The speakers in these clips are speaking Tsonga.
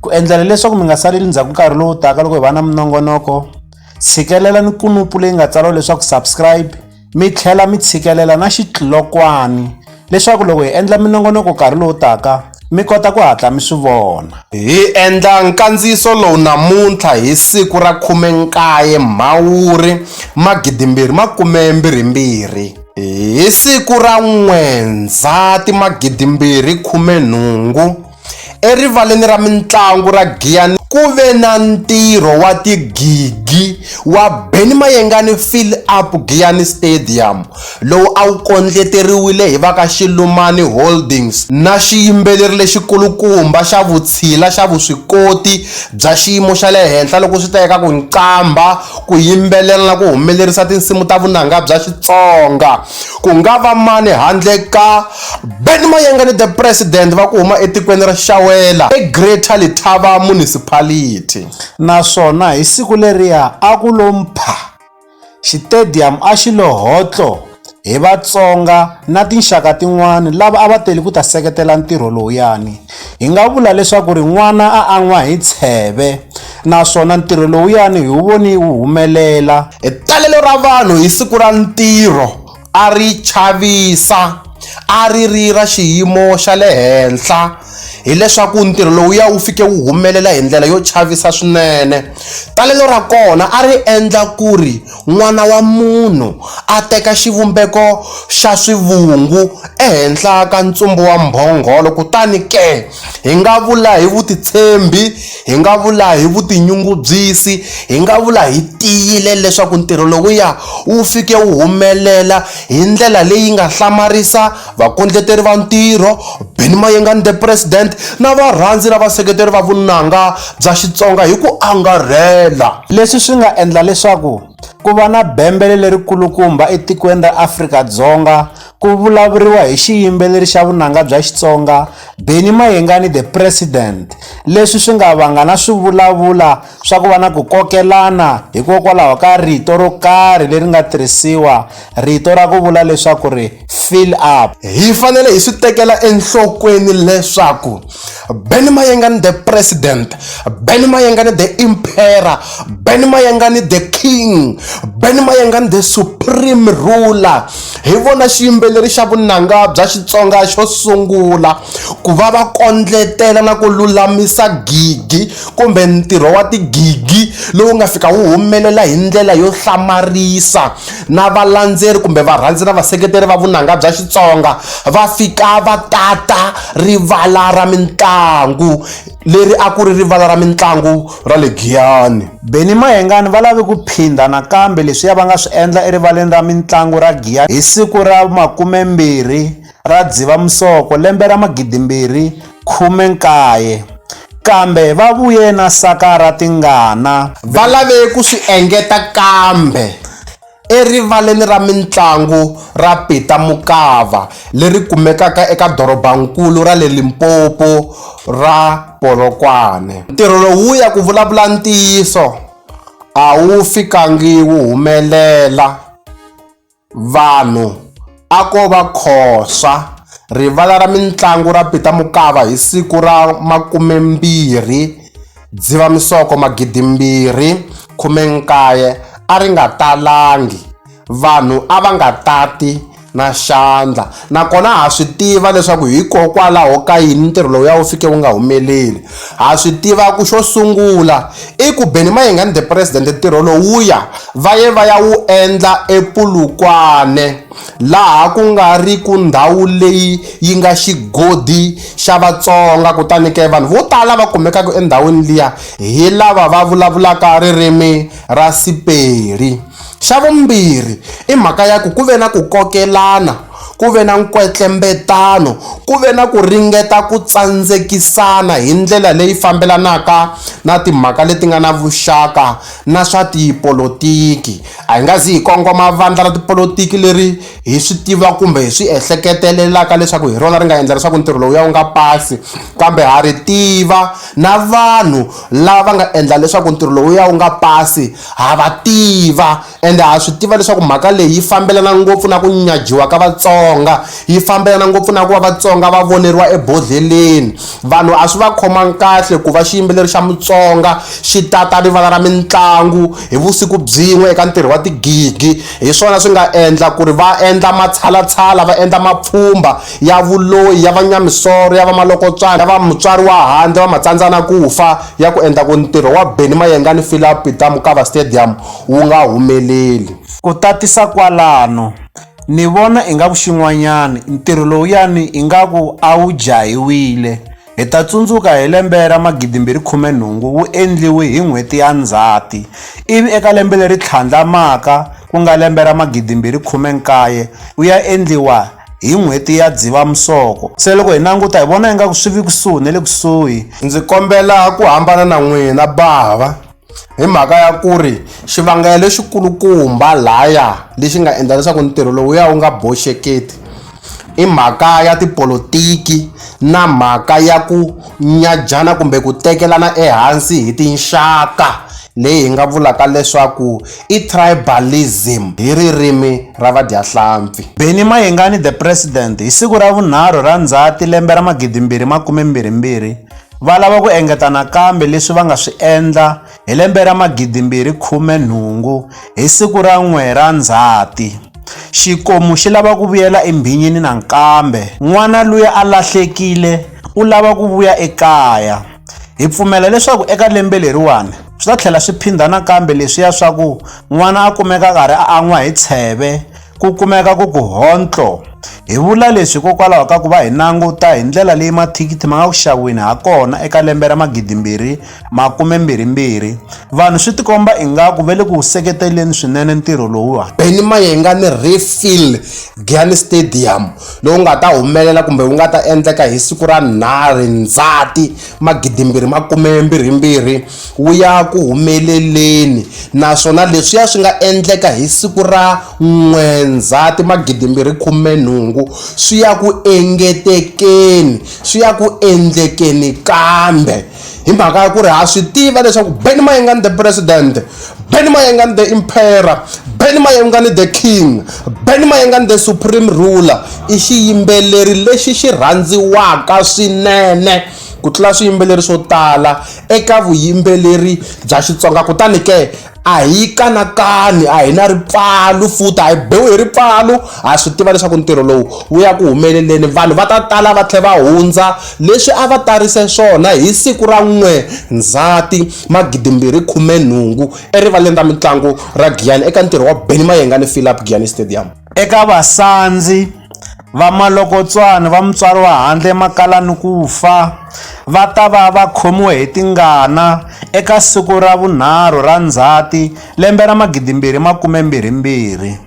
Ku endlela leswaku mi nga saleli ndzhaku nkarhi lowu taka loko hi va na minongonoko, tshikelela ni kunupu leyi nga tsariwa leswaku subscribe mi tlhela mi tshikelela na xitlokwani leswaku loko hi endla minongonoko nkarhi lowu taka mi kota ku hatla mi swi vona. Hi endla nkandziyiso lowu namuntlha hi siku ra 19 Mhawuri magidimbirhi makume mbirhi mbirhi. Hi siku ra N'wendzhati magidimbirhi khume nhungu, Erivaleni ra mintlangu ra Giyani ku ve na ntirho wa tigigi wa Benny Mayengani Fill Up Giyani Stadium lowu a wu kondleteriwile hi va ka Xilumani Holdings na xiyimbeleri lexi kulukumba xa vutshila xa vuswikoti bya xiyimo xa le henhla loko swi ta eka ku nqambha, ku yimbelela na ku humelerisa tinsimu ta vunanga bya Xitsonga. Ku nga va mani handle ka Ben Mayengani the President va ku huma etikweni ra Xawela eGreater Letaba Municipality. Naswona hi siku leriya a ku lo mpha, xitediyamu a xi lo hotlo hi Vatsonga na tinxaka tin'wana lava a va tele ku ta seketela ntirho lowuyani. Hi nga vula leswaku ri n'wana a an'wa hi tsheve. naswona ntirho lowuyani hi wu voni wu humelela talelo ra vanhu hi siku ra ntirho a ri chavisa a ri ri ra xiyimo xa le henhla hileswaku ntirho lowuya wu fike wu humelela hi ndlela yo chavisa swinene talelo ra kona a ri endla ku ri N'wana wa munhu a teka xivumbeko xa swivungu ehenhla ka ntsumbu wa mbhongolo, kutani ke, hi nga vula hi vutitshembi, hi nga vula hi vutinyungubyisi, hi nga vula hi tiyile leswaku ntirho lowuya wu fike wu humelela hi ndlela leyi nga hlamarisa Vakondleteri va ntirho, Benny Mayengani The President na varhandzi na vaseketeri va vunanga bya Xitsonga hi ku angarhela. Leswi swi nga endla leswaku ku va na bembele leri kulukumba etikweni ra Afrika-Dzonga ku vulavuriwa hi xiyimbeleri xa vunanga bya Xitsonga Benny Mayengani The President leswi swi nga vanga na swivulavula swa ku va na ku kokelana hikokwalaho ka rito ro karhi leri nga tirhisiwa rito ra ku vula leswaku ri fill up hi fanele hi swi tekela enhlokweni leswaku ben mayengani the president ben mayengani the impera ben mayengani the king ben mayengani the supreme ruler hi vona xiyimbeleri xa vunanga bya xitsonga xo sungula ku va va kondletela na ku lulamisa gidi kumbe ntirho wa tigigi lowu nga fika wu humelela hi ndlela yo hlamarisa na valandzeri kumbe varhandzi na vaseketeri va vunanga bya Xitsonga va fika va tata rivala ra mintlangu leri a ku ri rivala ra mintlangu ra le Giyani. Benny Mayengani va lave ku phindha nakambe leswiya va nga swi endla erivaleni ra mintlangu ra Giyani hi siku ra makume mbirhi ra Dzivamusoko lembe ra 2019, kambe va vuye na saka ra tingana. Va lave ku swi engeta kambe erivaleni ra mintlangu ra Peter Mokaba leri kumekaka eka dorobankulu ra le Limpopo ra Polokwane. Ntirho lowuya ku vulavula ntiyiso a wu fikangi wu humelela. Vanhu a ko va Khosa, rivala ra mintlangu ra Peter Mokaba hi siku ra 20 Dzivamisoko 2019 a ri nga talangi, vanhu a va nga tati na xandla Nakona ha swi tiva leswaku hikokwalaho ka yini ntirho lowuya wu fike wu nga humeleli. Ha swi tiva ku xo sungula i ku Benny Mayengani the President ntirho lowuya va ye va ya wu endla ePulukwane laha ku nga ri ku ndhawu leyi yi nga xigodi xa Vatsonga kutani ke vanhu vo tala va kumekaka endhawini liya hi lava va vulavulaka ririmi ra Sepedi. Xa vumbirhi i mhaka ya ku ku ve na ku kokelana, ku ve na nkwetlembetano, ku ve na ku ringeta ku tsandzekisana hi ndlela leyi fambelanaka na timhaka leti nga na vuxaka na swa tipolotiki. A hi nga zi hi kongoma vandla ra tipolotiki leri hi swi tivaka kumbe hi swi ehleketelelaka leswaku hi rona ri nga endla leswaku ntirho lowuya wu nga pasi, kambe ha ri tiva na vanhu lava nga endla leswaku ntirho lowuya wu nga pasi Ha va tiva, ende ha swi tiva leswaku mhaka leyi yi fambelana ngopfu na ku nyajiwa ka Vatsonga, yi fambelana ngopfu na ku va Vatsonga va voneriwa ebodlheleni. Vanhu a swi va khomanga kahle ku va xiyimbeleri xa Mutsonga xi ta ta rivala ra mintlangu hi vusiku byin'we eka ntirho wa tigigi, hi swona swi nga endla ku ri va endla matshalatshala, va endla mapfhumba, ya vuloyi, ya vanyamisoro, ya vamalokotswana, ya vamutswari wa handle, vamatsandzanakufa, ya ku endla ku ntirho wa Benny Mayengani Philaup Peter Mokaba Stadium wu nga humeleli. Ku tatisa kwalano, ni vona ingaku xin'wanyana ntirho lowuyani ingaku a wu jahiwile. Hi ta tsundzuka hi lembe ra 2018 wu endliwe hi n'hweti ya Ndzhati, ivi eka lembe leri tlhandlamaka ku nga lembe ra 2019 wu ya endliwa hi n'hweti ya Dzivamisoko. Se loko hi languta hi vona ingaku swi vi kusuhi ni le kusuhi. Ndzi kombela ku hambana na n'wina, Bava. hi mhaka ya ku ri xivangelo lexikulukumba laya lexi nga endla leswaku ntirho lowu ya wu nga boxeketi i mhaka ya tipolotiki na mhaka ya ku nyajana kumbe ku tekelana ehansi hi tinxaka leyi hi nga vulaka leswaku i tribalism hi ririmi ra vadyahlampfi beni mayengani the president hi siku ra vunharhu ra ndzhati lembe ra magidimbirhi makume mbirhi mbirhi Va lava ku engeta nakambe leswi va nga swi endla hi lembe ra 2018 hi siku ra n'we ra Ndzhati. Xikomu xi lava ku vuyela embhinyini nankambe. N'wana luya a lahlekile u lava ku vuya ekaya. Hi pfumela leswaku eka lembe leriwani swi ta tlhela swi phindha nakambe leswiya swa ku n'wana a kumeka a karhi a an'wa hi tsheve, Ku kumeka ku ku hontlo. Hi vula leswi hikokwalaho ka ku va hi languta hi ndlela leyi mathikithi ma nga ku xaviweni ha kona eka lembe ra magidimbirhi makumembirhimbirhi vanhu swi tikomba ingaku va le ku wu seketeleni swinene ntirho lowuwani Benny Mayenga ni Refill Giyani Stadium lowu nga ta humelela kumbe wu nga ta endleka hi siku ra nharhu Ndzhati magidimbirhi makumembirhimbirhi wu ya ku humeleleni naswona leswiya swi nga endleka hi siku ra n'we Ndzhati magidimbirhi khume nhungu swi ya ku engetekeni swi ya ku endlekeni kambe hi mhaka ya ku ri ha swi tiva leswaku Benny Mayengani the president Benny Mayengani the emperor Benny Mayengani the king Benny Mayengani the supreme ruler i xiyimbeleri lexi xi rhandziwaka swinene ku tlula swiyimbeleri swo tala eka vuyimbeleri bya Xitsonga kutani ke a hi kanakani a hi na ripfalo futhi a hi biwi hi ripfalo ha swi tiva leswaku ntirho lowu wu ya ku humeleleni vanhu va ta tala va tlhela va hundza leswi a va tarise swona hi siku ra n'we ndzhati magidimbirhi khume nhungu erivaleni ra mitlangu ra Giyani eka ntirho wa Benny Mayengani Philip Giyani Stadium Eka vasandzi va malokotswana va mutswari wa handle emakaya ni ku fa, va ta va va khomiwe hi tingana eka siku ra vunharhu ra Ndzhati lembe ra 2022.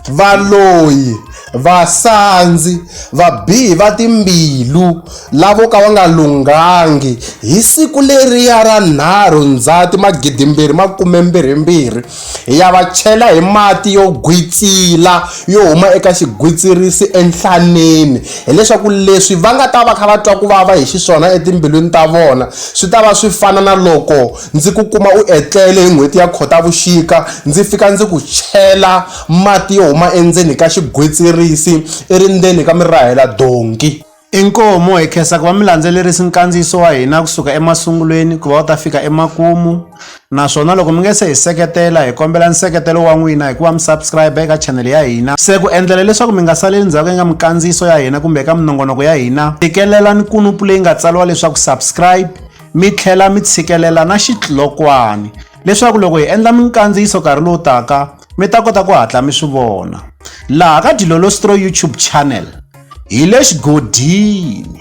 Valoyi, vasandzi, vabihi va timbilu, lavo ka va nga lunghangi, hi siku leriya ra 3 Ndzhati 2022, Hi ya va chela hi mati yo gwitsila yo huma eka xigwitsirisi enhlaneni hileswaku leswi va nga ta va kha va twa ku vava hi xiswona etimbilwini ta vona swi ta va swi fana na loko ndzi ku kuma u etlele hi n'hweti ya khotavuxika ndzi fika ndzi ku chela mati yo huma endzeni ka xigwitsirisi i ri ndzeni ka mirahela donki Inkomu, hi khensa ku va mi landzelerisi nkandziyiso wa hina ku suka emasungulweni ku va wu ta fika emakumu naswona loko mi nge se hi seketela hi kombela nseketelo wa n'wina hikuva mi subscribe eka chanele ya hina se ku endlela leswaku mi nga saleli ndzhaku eka minkandziyiso ya hina kumbe eka minongonoko ya hina tikelela ni kunupu leyi nga tsariwa leswaku subscribe mi tlhela mi tshikelela na xitlokwani leswaku loko hi endla minkandziyiso nkarhi lowu taka mi ta kota ku hatla mi swi vona laha ka dilolostro youtube channel hi le xigodini.